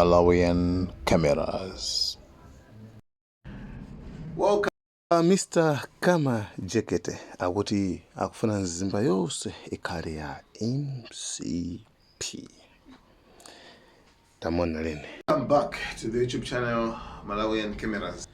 Malawian cameras. Welcome Mr. Kama Jekete akuti akufuna mzimba yonse ikhale ya MCP. Tamona lene. Welcome back to the YouTube channel Malawian Cameras.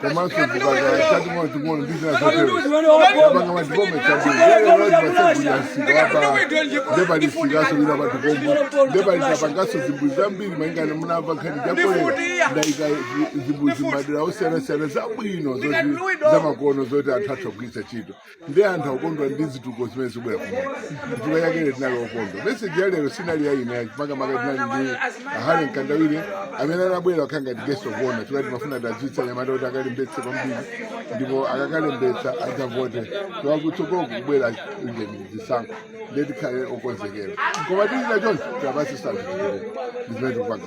komanso chipatala chaumoyo chikuona ndi zina zotero apanga machikomo chabuaasikaapa ndepalisikaso lina patikombo nde palinso tapangaso zimbudzi zambiri malingana munamva nkhani ya kolera ndaika zimbudzi m'madera osiyana-siyana zabwino zoti zamakono zoti anthu atha kugwiritsa ntchito ndi anthu akukondwa ndi zitukuko zimene zikubwera kuno chifukwa chake lero tinali okondwa meseji ya lero sinali ya ine makamaka tinali ndi a Harry Mkandawire amene anabwera akhala ngati guest of honor chifukwa timafuna tidzutse anyamata kuti akalembetse kwambiri ndipo akakalembetsa akavote chifukwa kutsogolo kubwera ujeni zisankho ndiye tikhale okonzekera koma dzina choncho tabasi sazitikire ndizimene tikupanga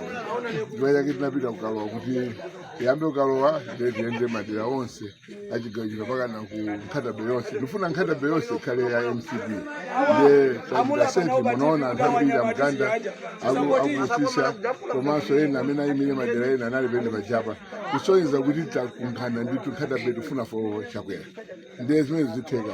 chifukwa chake tinapita kukalowa kuti tiyambe kukalowa ndiye tiyende madera onse a chigawo chino mpakana ku Nkhata Bay yonse ndifuna Nkhata Bay yonse ikhale ya mcp nde tachita sefi munaona anthu ambiri amganda aku- aku Usisya komanso ena amene ayimire madera ena anali penepa apa kusonyeza kuti takungana ndithu Nkhata Bay tifuna for Chakwera nde zimene zitheka